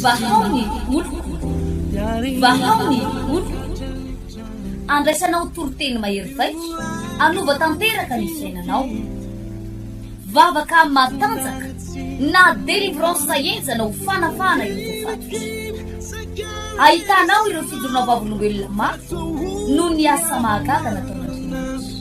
Vahao ny oloko, vahao ny oloko, andraisanao toriteny mahery vaika, hanova tanteraka ny fiainanao. Vavaka matanjaka na délivrance henjana ho fanafahana ireo voafatotra. Ahitanao ireo fijoroanao vavolombelona mafy noho ny asa mahagaga nataon'Andriamanitra.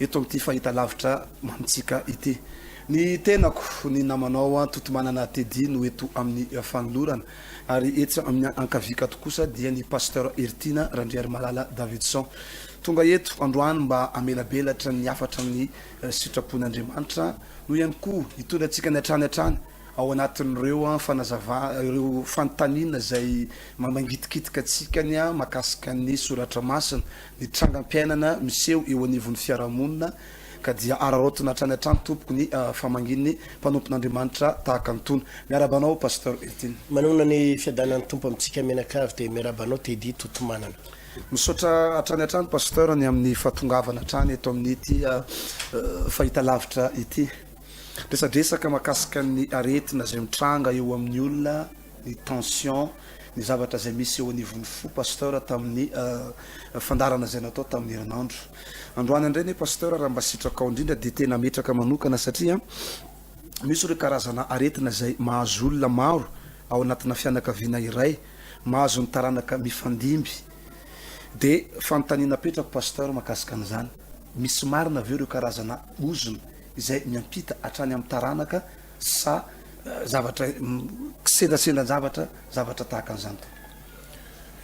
eto amin'ity fahitalavitra amintsika ity. Ny tenako, ny namanao Antotomanana Teddy no eto amin'ny fanolorana ary etsy amin'ny ankaviakato kosa dia ny Pasteur Heritiana Randriarimalala Davidson. Tonga eto androany mba hamelabelatra ny hafatra amin'ny sitrapon'Andriamanitra, no ihany koa hitondra antsika ny hatrany hatrany Ao anatin'ireo fanazavana, ireo fanontaniana izay mamangitikitika antsika ny mahakasika ny soratra masina, ny trangam-piainana miseho eo anivon'ny fiarahamonina, ka dia araraotina hatrany hatrany tompoko ny famangian'ny mpanompon'Andriamanitra tahaka an'itony. Miarahaba anao Pasteur Eltine. Manoana ny fiadanan'ny Tompo amintsika mianakavy dia miarahaba anao Teddy Totomanana. Misaotra hatrany hatrany Pasteur ny amin'ny fahatongavana hatrany eto amin'ity fahitalavitra ity. Resadresaka mahakasika ny aretina izay mitranga eo amin'ny olona, ny tension, ny zavatra izay misy eo anivon'ny fo Pasteur tamin'ny fandaharana izay natao tamin'ny herinandro androany indray anie Pasteur raha mba sitrakao indrindra dia tena hametraka manokana satria misy ireo karazana aretina izay mahazo olona maro ao anatina fianakaviana iray mahazo ny taranaka mifandimby dia fanontaniana apetrako Pasteur mahakasika an'izany. Misy marina ve ireo karazana ozona izay miampita hatrany amin'ny taranaka sa zavatra kisendrasendran-javatra zavatra tahaka an'izany tompoko?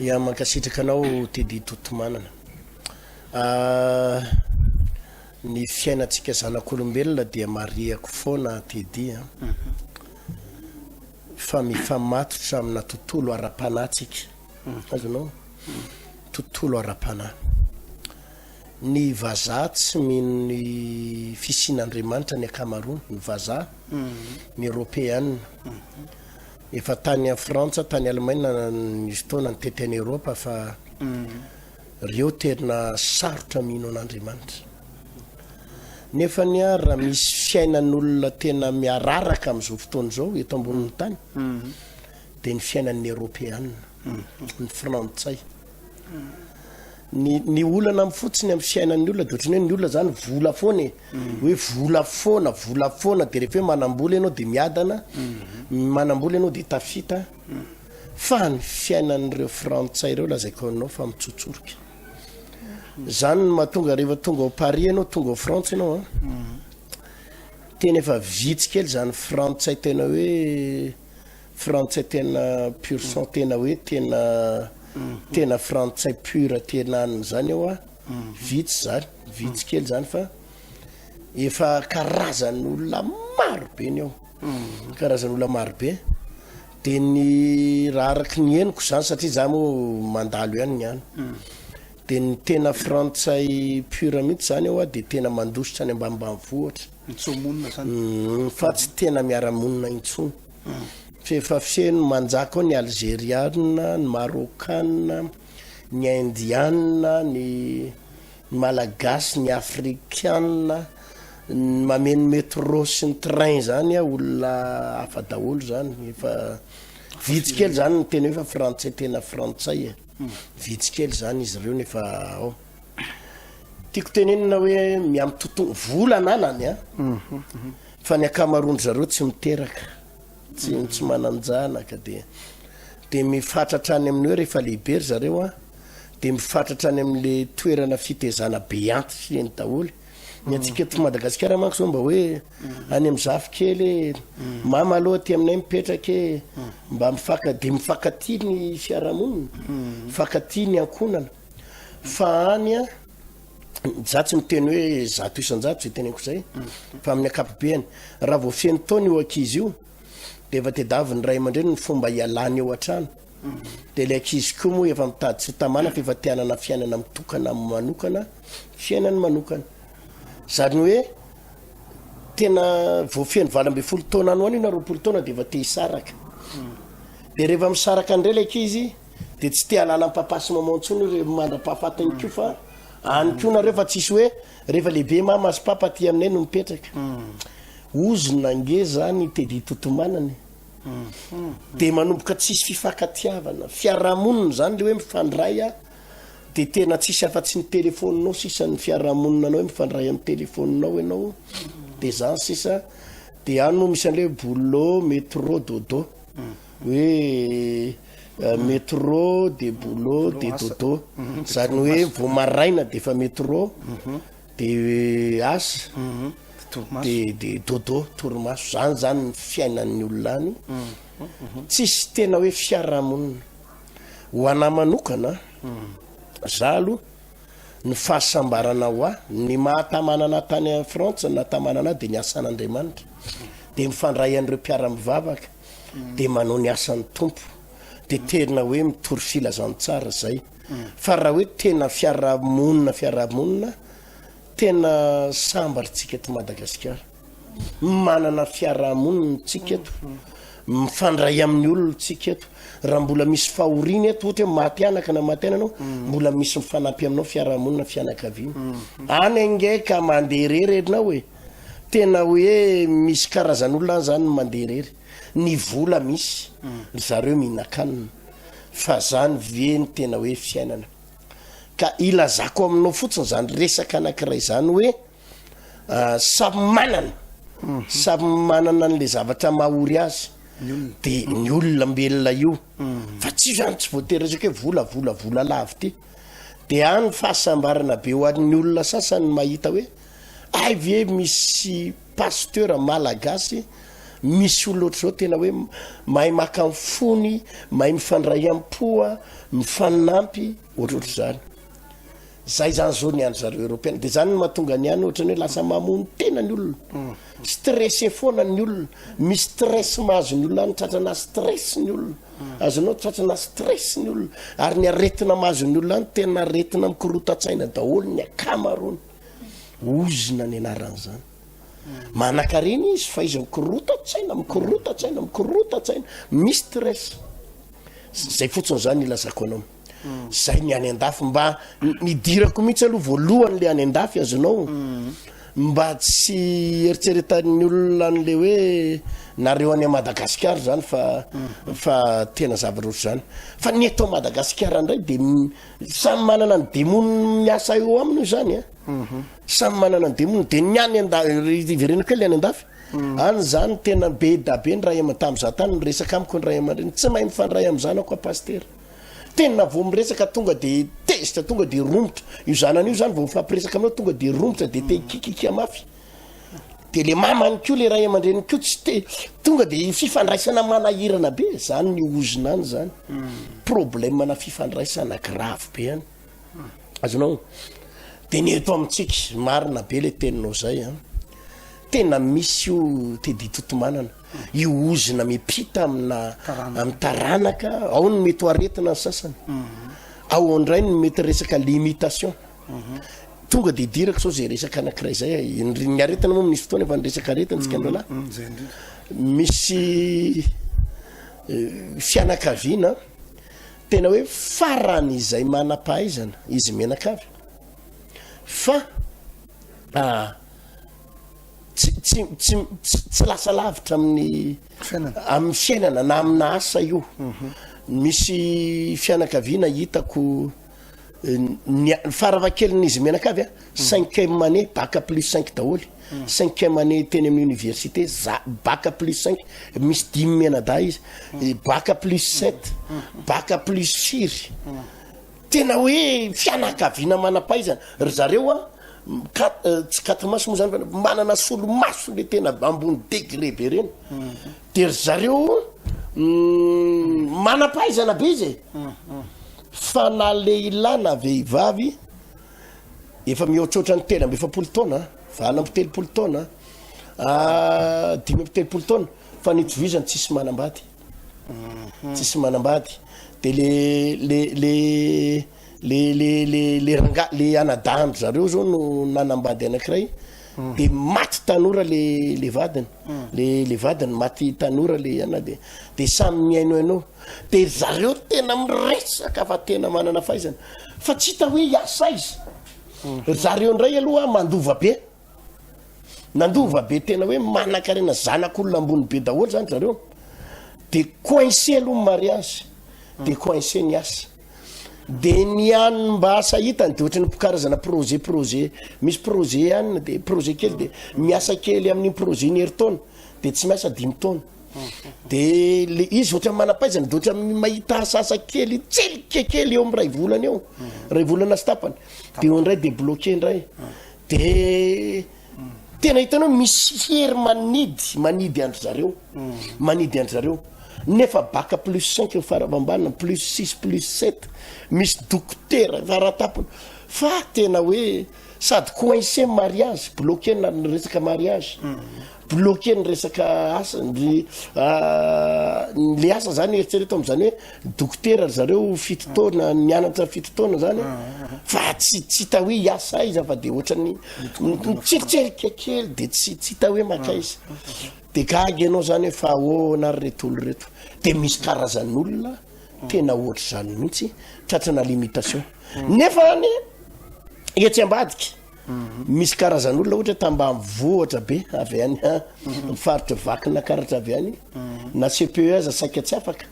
Ya, mankasitraka anao Teddy Totomanana. Ny fiainantsika zanak'olombelona dia marihako foana Teddy a, fa mifamatotra amina tontolo ara-panahy tsika, azonao? Tontolo ara-panahy. Ny vazaha tsy mino ny fisian'Andriamanitra ny akamaroany, ny vazaha, ny Eoropeana. Efa tany Frantsa, tany Alemaina nisy fotoana nitety an'i Eoropa fa reo tena sarotra mino an'Andriamanitra. Nefa anie ary raha misy fiainan'olona tena miararaka amin'izao fotoana izao eto ambonin'ny tany dia ny fiainan'ny Eoropeana, ny Frantsay. ny ny olana am fotsiny am fiainan'ny olona de ohatrany hoe ny olona zany vola foana e mm. hoe vola foana vola foana de rehefa hoe manambola ianao de miadana mm. manambola ianao de tafita mm. fa ny fiainan'ireo frantsay ireo lazaiko anao fa mitsotsorika zany ny mahatonga rehefa tonga ao paris ianao tonga ao frantsa ianao a tena efa vitsy kely zany frantsay tena hoe Frantsay tena pur sang tena hoe tena tena frantsay pur tena an'ny zany eo a vitsy zany vitsy kely zany fa efa karazany olona maro be ny eo karazany olona maro be de ny raha araky ny henoko zany satria za moa mandalo ihany ny any de ny tena frantsay pur mihitsy zany eo a de tena mandositra any ambanimbany vohatra mitsomonina zany fa tsy tena miara-monina intsony F'efa feno manjaka ao ny Alzeriana, ny Marokana, ny Indiana, ny Malagasy, ny Afrikana, ny mameno metro sy ny train zany a, olona hafa daholo zany, efa vitsy kely zany ny tena hoe fa frantsay tena frantsay e, vitsy kely zany izy reo nefa ao. Tiako tenenina hoe miamitonton vola ananany a fa ny akamaroan-dry zareo tsy miteraka tsy tsy manan-janaka dia dia mifatratra any amin'ny hoe rehefa lehibe ry zareo a dia mifatratra any amin'le toerana fitezana be antitra eny daholo ny antsika eto Madagasikara manko zao mba hoe any amin'ny zafikely mama aloha aty aminay mipetraka e mba mifaka dia mifankatia ny fiarahamonina mifankatia ny ankohonana Fa any a, za tsy miteny hoe zato isan-jato zay teneniko izay, fa amin'ny akapobeany. Raha vao feno taona io ankizy io, dia efa tedaviny ray aman-dreny ny fomba hialany eo an-trano. Dia ilay ankizy koa moa efa mitady tsy tamana fa efa te hanana fiainana mitokana manokana, fiainany manokana. Zany hoe tena vao feno valo ambin'ny folo taona any ho any io na roapolo taona dia efa te hisaraka. Dia rehefa misaraka indray ilay ankizy, Dia tsy te hanana papa sy maman intsony io rehefa mandra-pahafatiny koa fa any koa nareo fa tsisy hoe rehefa lehibe mama sy papa aty aminay no mipetraka. Ozona ange zany Teddy Totomanana e. Dia manomboka tsisy fifankatiavana. Fiarahamonina zany le hoe mifandray a dia tena tsisy afa-tsy ny telefaoninao sisa ny fiarahamonina anao hoe mifandray amin'ny telefaoninao ianao dia zany sisa. Dia any moa misy an'le hoe boulot, metro, dodo. Hoe Metro de boulot de dodo zany hoe vao maraina dia efa metro de asa de de dodo torimaso zany zany ny fiainan'ny olona any tsisy tena hoe fiarahamonina ho anah manokana za aloha ny fahasambarana ho ahy ny mahatamanana tany Frantsa natamanana dia ny asan'Andriamanitra dia mifandray an'ireo mpiara-mivavaka dia manao ny asan'ny Tompo dia tena hoe mitory filazantsara izay fa raha hoe tena fiarahamonina fiarahamonina tena sambaritsika eto Madagasikara manana fiarahamonina tsika eto mifandray amin'ny olona tsika eto raha mbola misy fahoriana eto ohatra hoe maty anaka na maty ananao mm. mbola misy mifanampy aminao fiarahamonina fianakaviana mm. any ange ka mandeha rery ianao e tena hoe misy karazan'olona any zany mandeha irery ny vola misy ry zareo mihinan-kanina fa zany ve ny tena hoe fiainana ka ilazako aminao fotsiny zany resaka anankiray zany hoe ah, samy manana samy manana an'le zavatra mahory azy de ny olona mbelona io fa tsy zany tsy voatery resaka hoe vola vola vola lavity de any fahasambarana be ho an'ny olona sasany mahita hoe Hay ve misy pasteur malagasy misy olona ohatr'izao tena hoe mahay maka ny fony, mahay mifandray am-po, mifaninampy ohatrohatr'izany. Zay zany zao ny any zareo Europeana. Dia zany no mahatonga ny any ohatrany hoe lasa mamono tena ny olona. Mm. Stressé foana ny olona. Misy stress mahazo ny olona any tratrana stress ny olona. Mm. Azonao tratrana stress ny olona. Ary ny aretina mahazo ny olona any tena aretina mikorotan-tsaina daholo ny akamaroany. Ozona ny anaran'izany. Manakarena izy fa izy mikorotan-tsaina, mikorotan-tsaina, mikorotan-tsaina, mistress. Zay fotsiny zany ilazako anao. Mm. Zay ny any an-dafy mba nidirako mihitsy aloha voalohany le any an-dafy azonao. Mm. Mba tsy eritseretan'ny olona an'le hoe nareo any Madagasikara zany fa mm. fa tena zava-roatra zany. Fa ny eto Madagasikara ndray de Samy manana ny demony miasa eo aminy io zany a mhm. samy manana ny demony de ny any anda iverena kely any andafy mhm. any zany tena be dabe ny ray aman tam za tany miresaka amiko ny ray aman-dreny tsy mahay mifandray amin'ny zanako a pastera tena vao miresaka tonga de tezitra tonga de romotra io zanany io zany vao mifampiresaka aminao tonga de romotra de te mhm. kikika mafy de le mama any ko le ray aman-dreny ko tsy te tonga de fifandraisana manahirana be zany ny ozona any zany hmm. problème na fifandraisana grave be any hmm. azonao de ny eto amintsika marina be le teninao zay a ah. tena misy io tedi totomanana hmm. io ozona mipita amina amy taranaka ao ny mety ho aretina ny sasany ao andray ny mety resaka limitation Tonga dia hidirako sao izay resaka anankiray izay a. Ny ny aretina moa misy fotoana efa ny resaka aretina tsika androalahy. Mm, mm, zay indrindra. Misy eh, fianakaviana tena hoe farany izay manam-pahaizana izy menaka avy fa ah, tsy tsy tsy tsy- tsy lasa lavitra amin'ny Fiainana. amin'ny fiainana na amina asa io misy fianakaviana hitako ny farafahakeliny izy mianakavy a hmm. cinquième année baka plus cinq daholo hmm. cinquième année teny amin'ny université za baka plus cinq misy dimy mianadahy izy hmm. baka plus sept baka plus siry tena hoe fianakaviana manapaizana ry zareo a euh, tsy katimaso moa zany manana solomaso le tena ambony degré be reny De ry zareo manam-pahaizana be izy e! Fa na lehilahy na vehivavy efa mihoatroatra ny telo amby efapolo taona, valo amby telopolo taona, dimy amby telopolo taona fa ny itovizany tsisy manambady, tsisy manambady de le le le. le le le le ranga le anadahany zareo zao no nanambady anakiray mm. de maty tanora le le vadiny mm. le le vadiny maty tanora le ana de de samy mihaino haino de zareo tena miresaka fa tena manana faizana fa tsy hita hoe iasa izy mm. zareo ndray aloha mandova be Nandova be tena hoe manankarena zanak'olona ambony be daholo zany zareo. De coincé aloha ny mariage, de coincé ny asa. De ny an'ny mba asa hitany de ohatrany karazana projet projet, misy projet ihany de projet kely de miasa kely amin'ny projet ny herintaona de tsy miasa dimy taona. De le izy ohatrany manampaizana de ohatrany mahita asa asa kely tselika kely eo amin'ny ray volana eo. Ray volana sy tapany. De eo indray de bloqué indray. Dia tena hitanao hoe misy hery manidy, manidy an-dry zareo, manidy an-dry zareo. Nefa baka plus cinq eo farava ambany, plus six, plus sept, misy dokotera faratapony. Fa tena hoe sady coincé ny mariage, bloqué na ny resaka mariage. Bloquer ny resaka asa ndry le asa zany eritrereto am'zany hoe dokotera ry zareo fito taona mianatra fito taona zany fa tsy tsy hita hoe hiasa aiza fa de ohatran'ny mitsitrerika kely de tsy tsy hita hoe makaiza de gaga ianao zany hoe fa ahoana ry reto olo reto de misy karazan'olona tena ohatr'izany mihitsy tratrana limitation nefa any etsy ambadika Misy karazan'olona ohatra hoe tambanivohitra be avy any amin'ny faritry Vakinakaratra avy any na CPE aza saika tsy afaka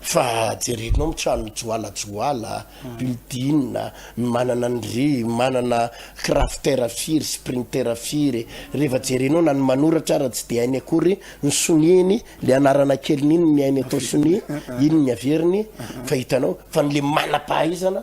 fa jerena ao amin'ny trano joalajoala, building, ny manana ny ry manana crafter firy, sprinter firy, rehefa jerena ao na ny manoratra ara tsy dia hainy akory ny sonia iny, ilay anarana keliny iny ny hainy atao sonia, iny ny averiny fa hitanao fa ny le manam-pahaizana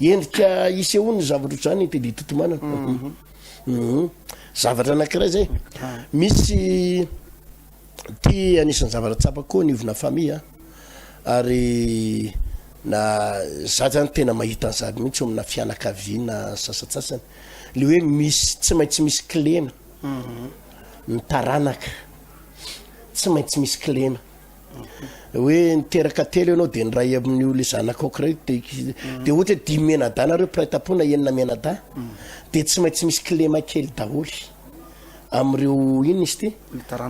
endrika isehoan'ny zavatra otrzany i teddy totomanana mhm. Mhm. zavatra anakiray zay ah. misy ty anisan'ny zavatra tsapa koa ny ovina famille ah. ary na za zany tena mahita ny zady mihitsy omina fianakaviana sasatsasany le hoe misy tsy maintsy misy klena mhm. ny taranaka tsy maintsy misy klena hoe niteraka telo ianao dia niray amin'io le zanaka okray de mm. de ohatra hoe dimy mianadahy nareo mpiray tampo na enina mianadahy mm. de tsy maintsy misy kilema kely daholy am'ireo iny izy ty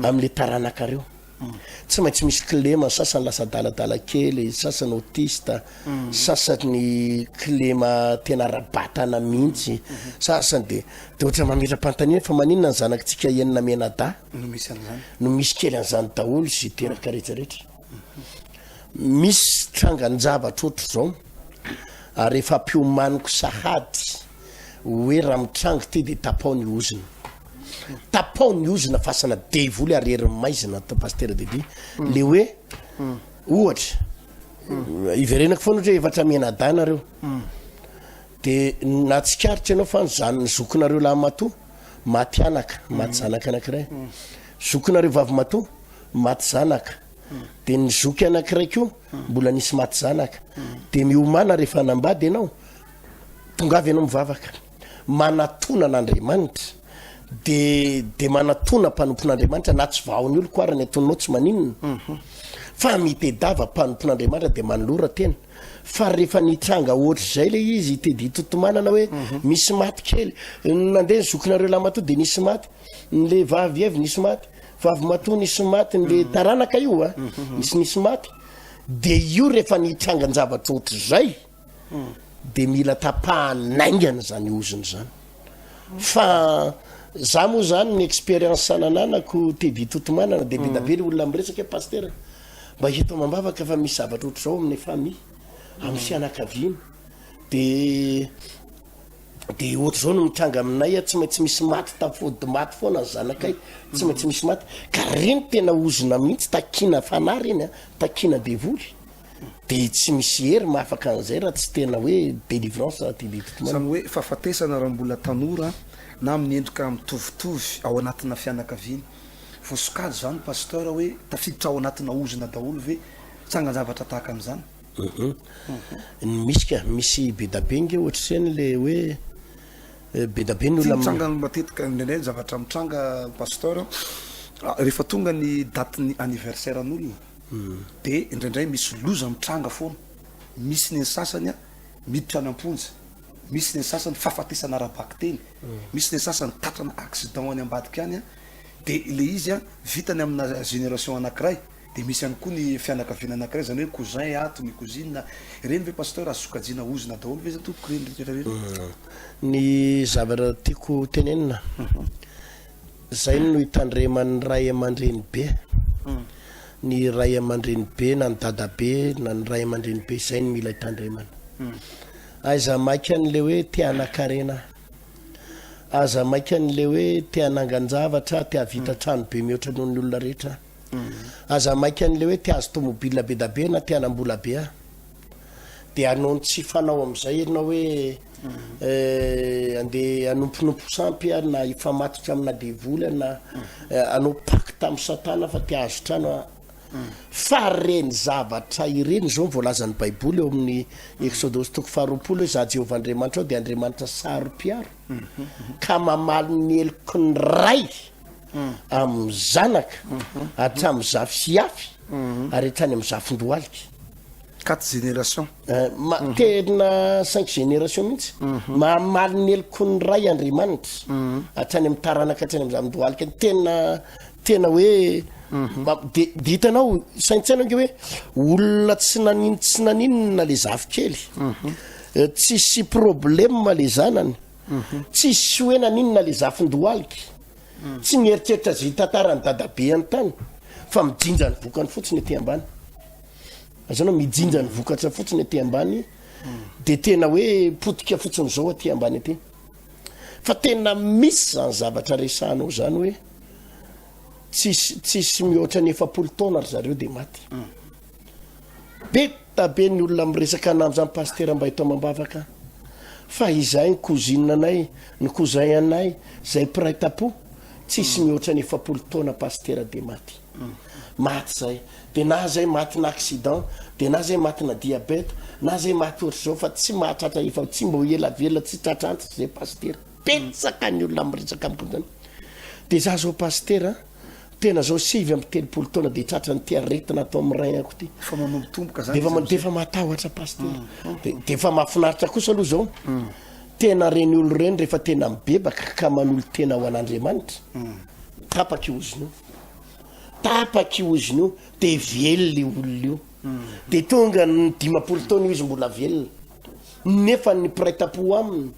am'le taranakareo mm. tsy maintsy misy kilema sasany lasa daladala kely sasany otista sasany kilema tena rabatana mihitsy mm-hmm. sasany de de ohatra mametra-pantaniana fa maninona ny zanakitsika enina mianadahy no misy an'izany no misy kely an'izany daholo sy teraka rehetra rehetra misy trangan-javatra ohatr'izao ary efa mpiomaniko sahady hoe raha mitrango ty dia tapao ny ozona tapao ny ozona fasana devoly ary herin'ny maizina atao pastera dedy hmm. le hoe hmm. ohatra hmm. iverenako foana ohatra hoe efatra mianadahy nareo Dia nahatsikaritra ianao fa ny zan ny zokinareo lahimatoa maty anaka, maty zanaka anankiray. Zokinareo vavimatoa maty zanaka. Dia ny zoky anankiray koa mbola nisy maty zanaka. Dia miomana rehefa hanambady ianao, tonga avy ianao mivavaka. Manatona an'Andriamanitra. Dia dia manatona mpanompon'Andriamanitra na tsy vahon'ny oloko ara ny atonanao tsy maninona. Fa mitedava mpanompon'Andriamanitra dia manolora tena. Fa rehefa nitranga ohatr'izay le izy i Teddy Totomanana hoe misy maty kely, nandeha ny zokinareo lahimatoa dia nisy maty, ny le vavy avy nisy maty, vavy matoa nisy maty, ny le taranaka io a, nisy nisy maty. Dia io rehefa nitranga an-javatra ohatr'izay dia mila tapahana haingana izany ozona izany. Fa za moa zany ny expérience nananako Teddy Totomanana dia be da be le olona miresaka hoe Pasitera, Mba hita amam-bavaka fa misy zavatra ohatr'izao amin'ny famille, amin'ny fianakaviana. Dia dia ohatr'izao no mitranga aminay tsy maintsy misy maty tafody maty foana ny zanakay tsy maintsy misy maty ka reny tena ozona mihitsy takina fanahy reny a takina devoly dia tsy misy hery mahafaka an'izay raha tsy tena hoe délivrance raha ty biby zany hoe fahafatesana raha mbola tanora na amin'ny endrika mitovitovy ao anatina fianakaviana Voasokajy zany Pasteur hoe tafiditra ao anatina ozona daholo ve tsangan-javatra tahaka an'izany? Hum misy ka, misy bedabe nge ohatr'izany le hoe bedabe ny olona mitranga matetika indraindray ny zavatra mitranga Pasteur rehefa tonga ny date ny anniversaire an'olona de indraindray misy loza mitranga foana misy ny an'ny sasany miditra any am-ponja, misy ny an'ny sasany fahafatesana ara-bakiteny. Misy le sasany tatrana accident any ambadika any a, de le izy a vitany amina génération anakiray, de misy ihany koa ny fianakaviana anakiray zany hoe cousin ato, ny cousine a, ireny ve pasteur azo sokajiana ozona daholo ve zany tompoko ireny rehetra ireny? Ny zavatra tiako tenenina. Zay no hitandreman'ny ray aman-dreny be. Ny ray aman-dreny be na ny dada be na ny ray aman-dreny be zay no mila hitandremana. Aiza maika an'le hoe te hanan-karena aho. Aza maika an'le hoe te hanangan-javatra aho, te hahavita trano be mihoatra noho ny olona rehetra aho. Aza maika an'le hoe te hahazo tomobila be da be na te hanam-bola be aho. Dia hanao ny tsy fanao amin'izay ianao hoe eh, andeha hanomponompo sampy aho na hifamatitra amina devoly aho na eh, hanao pacte amin'ny Satana fa te hahazo trano aho. Fa ireny zavatra ireny izao ny voalazan'ny Baiboly ao amin'ny Eksodosy toko faharoapolo hoe izaho Jehovah Andriamanitrao dia Andriamanitra saro-piaro ka mamaly ny heloky ny ray amin'ny zanaka hatramin'ny zafy sy hafy ary hatrany amin'ny zafin-dohalika. Quatre générations. Eh, tena cinq générations mihitsy. Mhm. Mahamaly ny helokon'ny Ray Andriamanitra. Mhm. Hatrany amin'ny taranaka hatrany amin'ny zandohalika. Tena tena hoe mhm. de de hitanao saintsaina ange hoe olona tsy nanin tsy naninona le zafikely. Eh, tsisy problème le zanany. Tsisy hoe naninona le zafindohalika. Tsy mieritreritra zitantara ny dadabe an-tany fa mijinja ny bokany fotsiny ety ambany. Zany hoe mijinja ny vokatra fotsiny aty ambany dia tena hoe potika fotsiny izao aty ambany aty. Fa tena misy izany zavatra resahanao izany hoe tsisy tsisy mihoatra ny efapolo taona ry zareo dia maty. Mm. Be tabe ny olona miresaka ananjy zany pasitera mba eto amam-bavaka. Fa izahay ny cousine anay, ny cousin anay, izay mpiray tampo, tsisy mm. mihoatra ny efapolo taona pasitera dia maty. Maty zay de na zay matina accident de na zay matina diabète na zay maty otrzao fa tsy mahatratra efa tsy mbo ela velona tsy tratra antitra zay pasitera betsaka ny olona miresaka amiko zany de za zao pasitera tena zao sivy amby telopolo taona de tratra ny ty aretina atao amin'ny rein ako ty fa manombo tomboka zany defa defa matahotra pasitera mm, mm. defa mafinaritra kosa aloha zao mm. tena reny olo reny rehefa tena mibebaka ka manolo tena ho an'andriamanitra tapaka oziny tapaka io izy io de velona io olona io de tonga ny dimampolo taona io izy mbola velona nefa ny mpiray tampo aminy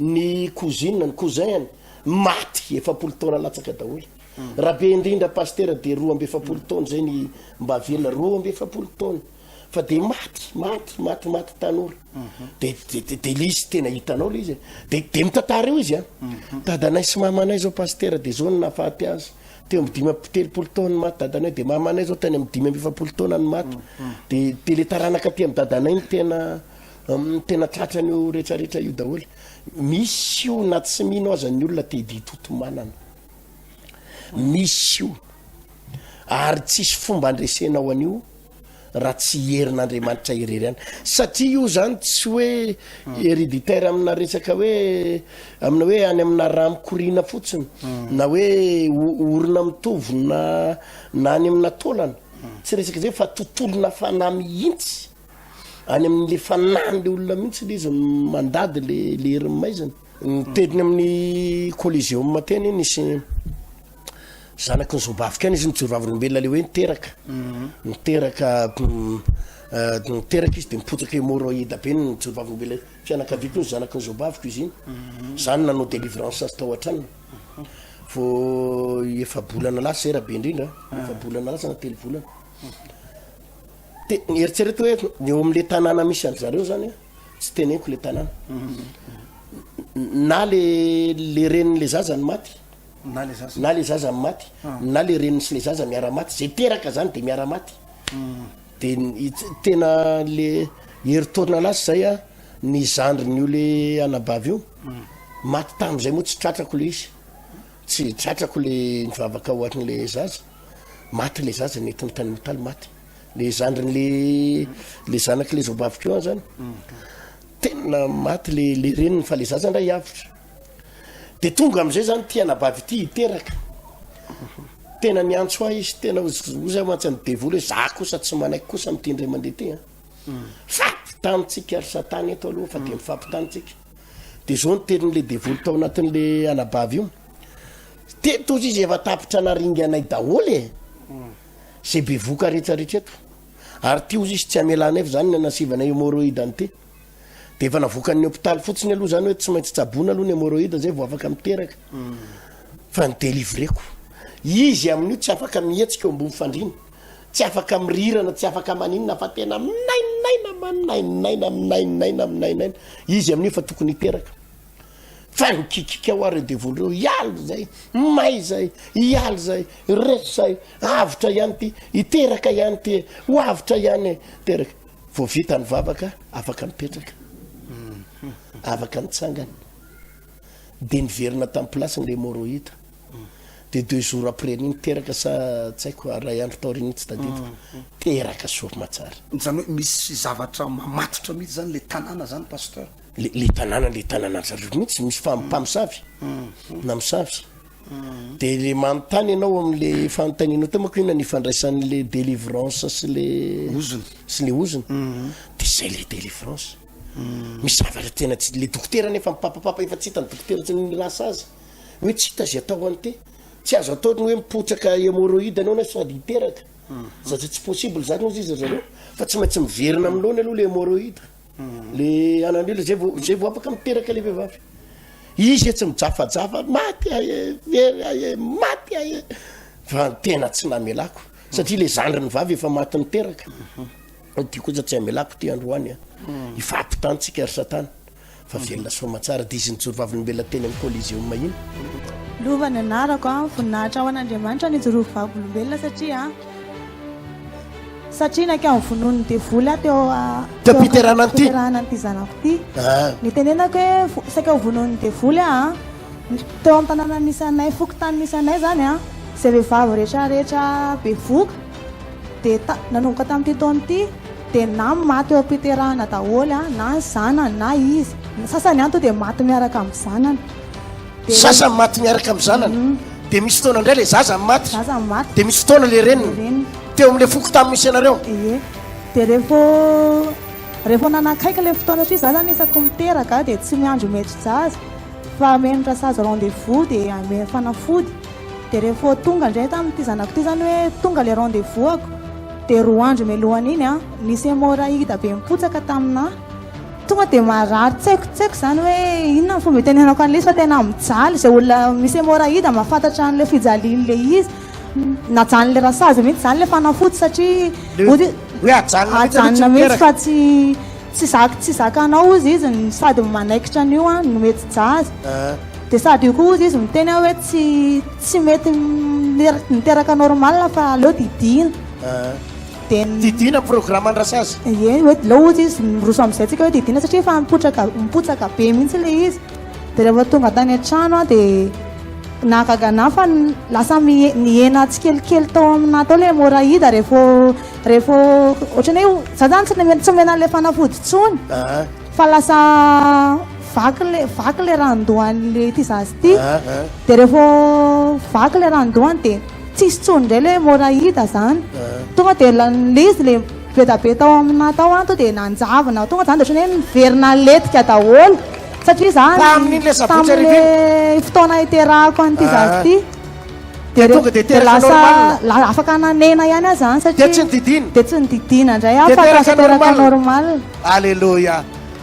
ny cousine ny cousin maty efapolo taona latsaka daholo raha be indrindra pastera de roa amby efapolo taona zay ny mba velona roa amby efapolo taona fa de maty maty maty maty tanora de de de le izy tena hitanao le izy de de mitantara eo izy a dadanay sy mamanay zao pasitera de zao ny nahafaty azy teo amin'ny dimy amby telopolo taona ny maty dadanay de mamanay zao tany amin'ny dimy amby efapolo taona ny maty de de le taranaka aty amin'ny dadanay ny tena um, tena tratra an'io rehetrarehetra io daholo misy io na tsy mino aza ny olona te hiditoto manana misy io Ary tsisy fomba andresenao an'io raha tsy herin'Andriamanitra irery ihany. Satria io zany tsy hoe hereditaire amina resaka hoe amina hoe any amina raha mikoriana fotsiny na hoe orina mitovy na na any amina taolana. Tsy resaka zay fa tontolona fanahy mihitsy. Any amin'le fanahin'le olona mihitsy le izy mandady le le herin'ny maizina. Ny teny amin'ny Coliseum teny nisy zanaky ny zobavika any izy nijoro vavolombelona le hoe niteraka mhm. niteraka mm, eh, niteraka izy de mipotsaka hémorroïde be nijoro vavolombelona fianakaviako ny zanaky ny zobaviko izy iny mhm. zany nanao délivrance azy tao an-tranony mhm. vo efa bolana lasa zay raha be indrindra ah. efa bolana lasa na telo volana de eritsereto hoe ny eo amin'le tanàna misy an-dry zareo zany tsy teneniko le tanàna na le le reniny le zaza ny maty na le zaza na le zaza ny maty ah. na le reniny sy le zaza miara maty zay teraka zany de miara maty hmm. de tena le heritaorina anazy zay a ny zandriny io le anabavy io hmm. maty tam'izay moa tsy tratrako le izy tsy tratrako le nivavaka ohatrin'le zaza maty le zaza nety ny tany mitaly maty le zandriny le le zanaky le zobaviko eo zany tena maty le le reniny fa le zaza ndray hiavotra de tonga am'izay zany ty anabavy ity hiteraka tena niantso ahy izy tena oza mantsy an'ny devoly hoe za kosa tsy manaiky kosa am'ty indray mandeha ty a fampitanitsika ry satana eto aloha fa de mifampitanitsika de zao ny tenin'le devoly tao anatin'le anabavy io teto ozy izy efa tapitra naringanay daholo e Zay bevoka retraretra eto. Ary ty ozy izy tsy hamela anay fa zany ny anasivana hémorroïde an'ity. De efa navokan'ny hôpital fotsiny aloha zany hoe tsy maintsy tsaboina aloha ny hémorroïde zay vao afaka miteraka. Fa ny délivreko. Izy amin'io tsy afaka mihetsika eo ambony fandriana. Tsy afaka mirirana, tsy afaka maninona fa tena minainaina, manainaina, minainaina, minainaina. Izy amin'io efa tokony hiteraka. Fa ny kikikao ary devoly reo hialy zay, may zay, hialy zay, resy zay, avotra ihany ty, hiteraka ihany ty e, ho avotra ihany e, teraka. Vao vita ny vavaka, afaka mipetraka, afaka mitsangana. Dia niverina tamin'ny place-ny le morohita. Dia deux jours après an'iny teraka sa tsy haiko iray andro taorian'iny tsy tadidiko. Teraka soa aman-tsara. Izany hoe misy zavatra mamatotra mihitsy zany le tanàna zany pasteur. le le tanàna le tanàna zareo mihitsy misy fa mpamosavy na mosavy de le manontany ianao am'le fanontanianao teo manko inona ny ifandraisan'le délivrance sy le ozony sy le ozony de zay le délivrance misy zavatra tena tsy le dokotera nefa mipapapapa efa tsy hitany dokotera tsy ny lasa azy hoe tsy hita zy atao any te tsy azo atao ny hoe mipotsaka hémorroïde anao na sady hiteraka satria tsy possible zany hozy izy zareo fa tsy maintsy miverina amin'ny loany aloha le hémorroïde Le anandrila zay vao zay vao afaka miteraka le vehivavy. Izy e tsy mijafajafa maty aye very aye maty aye fa tena tsy namelako satria le zandriny vavy efa maty niteraka. Mhm. Ty kosa tsy amelako ty androany a. Mhm. Ifampitantsika ry satana fa mhm. velona soa aman-tsara dia izy nijoro vavolombelona teny amin'ny Coliseum iny. Lova ny anarako a, voninahitra ho an'Andriamanitra nijoroako vavolombelona satria Satria naika ny vonoan'ny devoly aho teo teo am-piterahana an'ity fiterahana an'ity zanako ity. Ah. Nitenenako hoe vo- saika ho vonoan'ny devoly aho. ah. Ny- Teo amin'ny tanàna misy anay, fokontany misy anay izany ah, izay vehivavy rehetra rehetra bevoka dia ta- nanomboka tamin'ity taona ity dia na maty eo am-piterahana daholo ah, na ny zanany na izy. Ny sasany ihany tonga dia maty miaraka amin'ny zanany. Zaza maty miaraka amin'ny zanany, dia misy fotoana indray ilay zaza maty, dia misy fotoana ilay reniny. Teo amin'ilay foko tamin'ny misy anareo. Ie, dia rehefa rehefa nanakaiky ilay fotoana satria za zany isaky miteraka dia tsy miandry maître-jaza fa ameno rasazy rendez-vous dia ameno fanafody. Dia rehefa tonga indray tamin'ity zanako ity zany hoe tonga ilay rendez-vous ako dia roa andro mialohan'iny an, nisy hémorraïde be mipotsaka taminà. Tonga dia marary tsaikotsaiko izany hoe inona ny fomba itenenako an'ilay izy fa tena mijaly. Izay olona misy hémorraïde mahafantatra an'ilay fijalian'ilay izy. Najanon'ilay rasazy mihitsy izany ilay fanafody satria ody Hoe ajanona mihitsy aloha tsy ajanona mihitsy miteraka. fa tsy tsy zaka tsy zakanao hozy izy no sady manaikitra an'io an no mety jazz. Dia sady io koa hozy izy miteny aho hoe tsy tsy mety miter- miteraka normal fa aleo didiana. dia Didiana programan-dRasazy. Ie, hoe dia leo ohatry izy miroso amin'izay tsika hoe didiana satria efa mipotraka, mipotsaka be mihitsy ilay izy. Dia rehefa tonga tany an-trano aho dia nahagaga anah fa lasa mihe- nihena tsikelikely tao aminah tao ilay hemorraïde ary rehefa rehefa ohatran'ny hoe za zany tsy nome- tsy nomena an'ilay fanafody intsony Ah, fa lasa vaky le vaky le randohan'ilay ity zaza ity ah, ah. dia rehefa vaky le randohany dia Tsisy tsony ndray le moraida zany tonga de l'izy le bedabe tao amina tao an to de nanjavona tonga zany de otrany hoe miverina letika daholo satria zany tamle fotoana iterahako an'ity zaza ty de tonga de teraka normal afaka nanena ihany aho zany satria de tsy nididina de tsy nididina ndray aho fa lasa teraka normal aleloia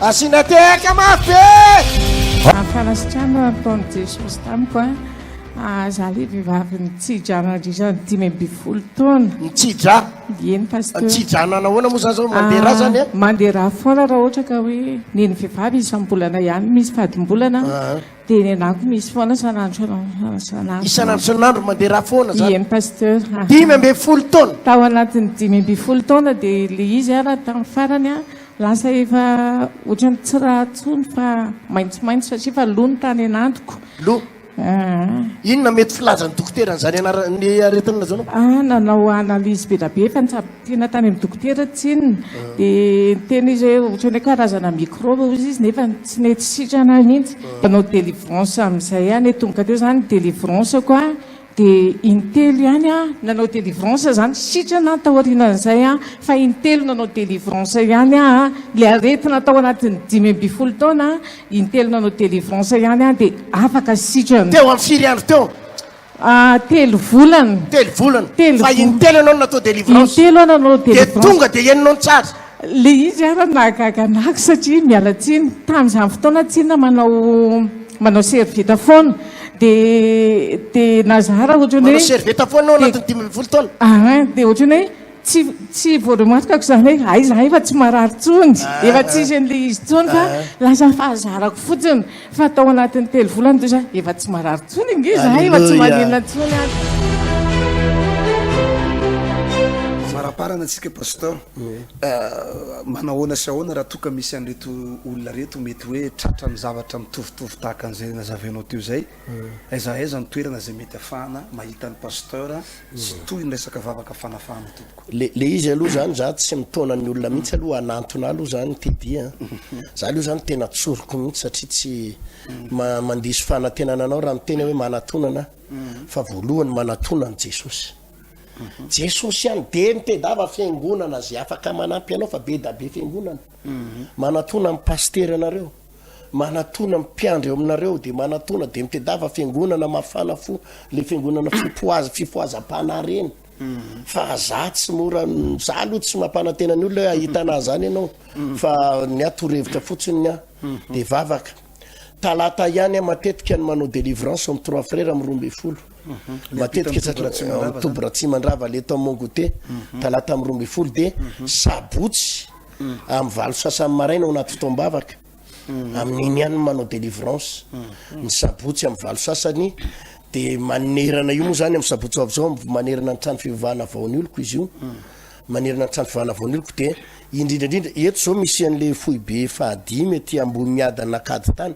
asina tehaka mafy be ny fanasitrana nataon'i Jesosy tamiko a Ah, za le vehivavy nitsidra nandritra ny dimy ambin'ny folo taona. Nitsidra? Eny Pasteur. Nitsidra hanana ahoana moa zany zao, mandeha ra zany ah? Mandeha ra foana raha ohatra ka hoe ny ny vehivavy isam-bolana ihany misy fadim-bolana dia ny anako misy foana isan'andro isan'andro. Isan'andro isan'andro mandeha ra foana zany? Eny Pasteur. Dimy ambin'ny folo taona? Tao anatin'ny dimy ambin'ny folo taona dia le izy ah raha tamin'ny farany ah lasa efa ohatran'ny tsy ra tsony fa maitsomaitso satria efa lo ny tany an'androko. Lo? Inona mety filazan'ny dokotera an'izany anaran'ny aretina izany? Ah, nanao analyse be dia be fa nitsabo tena tany amin'ny dokotera tsinona. Ah. Dia niteny izy hoe ohatran'ny hoe karazana microbe hoy izy nefa tsy nety sitrana ahy mihitsy. Ah. Nanao délivrance amin'izay aho nety tonga teo izany délivrance ko aho dia intelo ihany aho nanao délivrance izany sitrana aho taorianan'izay aho fa intelo nanao délivrance ihany aho ilay aretina tao anatin'ny dimy ambin'ny folo taona Intelo nanao délivrance ihany aho dia afaka sitrana. Teo amin'ny firy andro teo? Ah, telo volana. Telo volana. Telo Fa volana. intelo ianao no natao délivrance. Intelo aho nanao Dia délivrance. tonga dia henonao ny tsara. Ilay izy ary nahagaga an'ako satria miala tsiny. Tamin'izany fotoana tsinona manao manao servieta foana. Dia dia nazara ohatran'ny hoe. Manao servieta foana ao anatin'ny dimy ambin'ny folo taona? Aa, dia ohatran'ny hoe. Tsy tsy voaroy maso kako izany hoe hay izahay efa tsy marary intsony, efa tsisy an'ilay izy intsony fa lasa fahazarako fotsiny fa tao anatin'ny telo volana dia zah efa tsy marary intsony ange izahay, efa tsy maninona intsony ary. Faraparana antsika Pasteur, manao ahoana sy ahoana raha toa ka misy an'ireto olona ireto mety hoe tratra amin'ny zavatra mitovitovy tahaka an'izay nazavenao teo izay? Aiza aiza ny toerana izay mety afahana mahita ny Pasteur sy toy ny resaka vavaka fanafahana tompoko. Le le izy aloha zany za tsy mitaona ny olona mihitsy aloha hanantona aloha zany Teddy a! Za aloha zany tena tsoriko mihitsy satria tsy ma mandiso fanantenana anao raha miteny aho hoe manatonana aho fa voalohany manatona an'i Jesosy. Jesosy ihany dia ny tedava fiangonana zay afaka manampy anao fa be da be fiangonana. Manatona ny Pasitera anareo. Manatona mpiandry eo aminareo dia manatona dia mitedava fiangonana mafana fo le fiangonana fipoaza fipoazam-panahy reny fa za tsy mora za aloha tsy mampanantena ny olona hoe ahita anahy zany ianao fa ny ahy torohevitra fotsiny ny ahy dia vavaka talata ihany aho matetika ny manao délivrance amin'ny trois frères amin'ny roa ambin'ny folo matetika satria amin'ny toby Ratsimandrava le tao Mongote talata amin'ny roa ambin'ny folo dia sabotsy amin'ny valo sasany maraina ao anaty fotoam-bavaka, amin'iny ihany no manao délivrance, ny sabotsy amin'ny valo sasany, dia manerana io moa izany amin'ny sabotsy ho avy izao, manerana ny trano fivavahana Vaonioloko izy io, manerana ny trano fivavahana Vaonioloko, dia indrindra indrindra, eto izao misy an'ilay foibe fahadimy aty Ambohimiadana Ankaditany,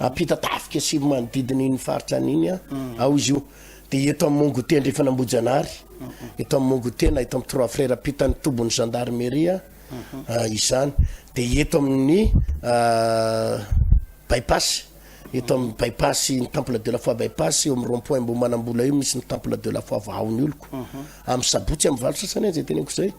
Ampita tafika sy manodidina iny faritra any iny ao izy io. Dia eto amin'ny Mongote ndray fanambojanahary, eto amin'ny Mongote na eto amin'ny Trois Frères ampitan'ny tobin'ny gendarmerie izany. Dia eto amin'ny Bypass, eto amin'ny Bypass ny Temple de la Foi Bypass eo amin'ny rond point Ambohimanambola io misy ny Temple de la Foi vahaon'ny oloko. Amin'ny Sabotsy amin'ny valo sasany izay teneniko izay.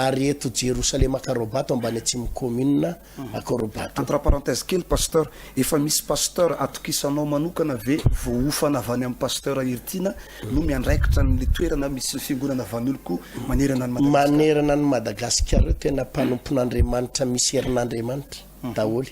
Ary eto Jerosalema Karobato ambany Atsimo commune akorobato. Entre parenthèse kely Pasteur, efa misy Pasteur atokisanao manokana ve voahofana avy any amin'ny Pasteur Heritiana no miandraikitra an'le toerana misy ny fiangonana Vanolko manerana an'i Madagasikara? Manerana an'i Madagasikara ireo tena mpanompon'Andriamanitra misy herin'Andriamanitra daholo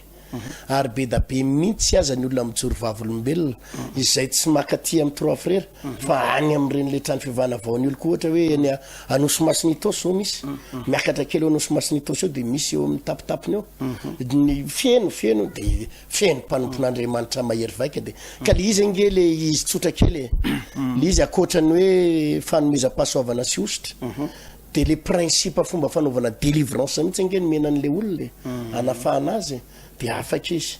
ary bedabe mintsy aza ny olona mijoro vavolombelona izay tsy makaty amin'ny Trois Frères Fa any amin'ireny ilay trano fivavahana vaon'ny oloko ohatra hoe eny a- Anosy Masina Itaosy izao misy. Miakatra kely eo Anosy Masina Itaosy eo dia misy eo amin'ny tapitapiny eo. Ny feno feno dia feno mpanompon'Andriamanitra mahery vaika dia ka le izy ange le izy tsotra kely e. Le izy ankoatran'ny hoe fanomezam-pahasoavana sy hosotra dia le principe fomba fanaovana délivrance mihitsy ange no mena an'ilay olona e. Anafahana azy dia afaka izy.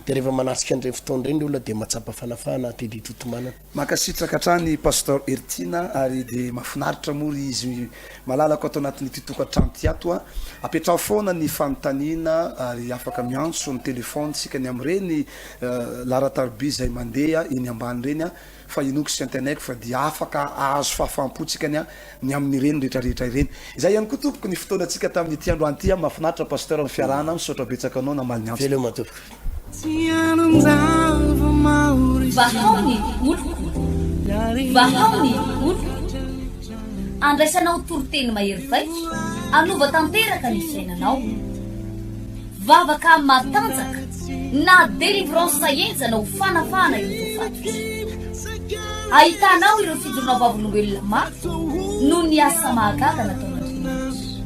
Dia rehefa manatrika an'ireny fotoana ireny ny olona dia mahatsapa fanafahana aty Didy Totomanana. Mankasitraka hatrany Pasteur Heritiana ary dia mahafinaritra moa ry izy malalako ato anatin'ity tokantrano ity ato a! Apetraho foana ny fanontaniana ary afaka miantso ny téléphone tsika ny amin'ireny laharan-tariby izay mandeha eny ambany ireny a! fa Enoch sy Antenaiko fa dia afaka ahazo fahafaham-pontsika ny ahy ny amin'ireny rehetra rehetra ireny. Izay ihany koa tompoko ny fotoanantsika tamin'ity androany ity an! Mahafinaritra Pasteur ny fiarahana, misaotra betsaka anao namaly ny antsoko. Veloma tompoko. Vahao ny oloko, vahao ny oloko, andraisanao toriteny mahery vaika, hanova tanteraka ny fiainanao. Vavaka matanjaka na délivrance enjana ho fanafahana ireo voafaty. Ahitanao ireo fidorona vavolombelona maty noho ny asa mahagaga nataon'Andriamanitra.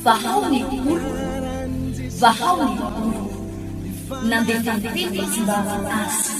Vahao ny oloko, vahao ny oloko. Nandefa ny teny fa tsy mba aza azy.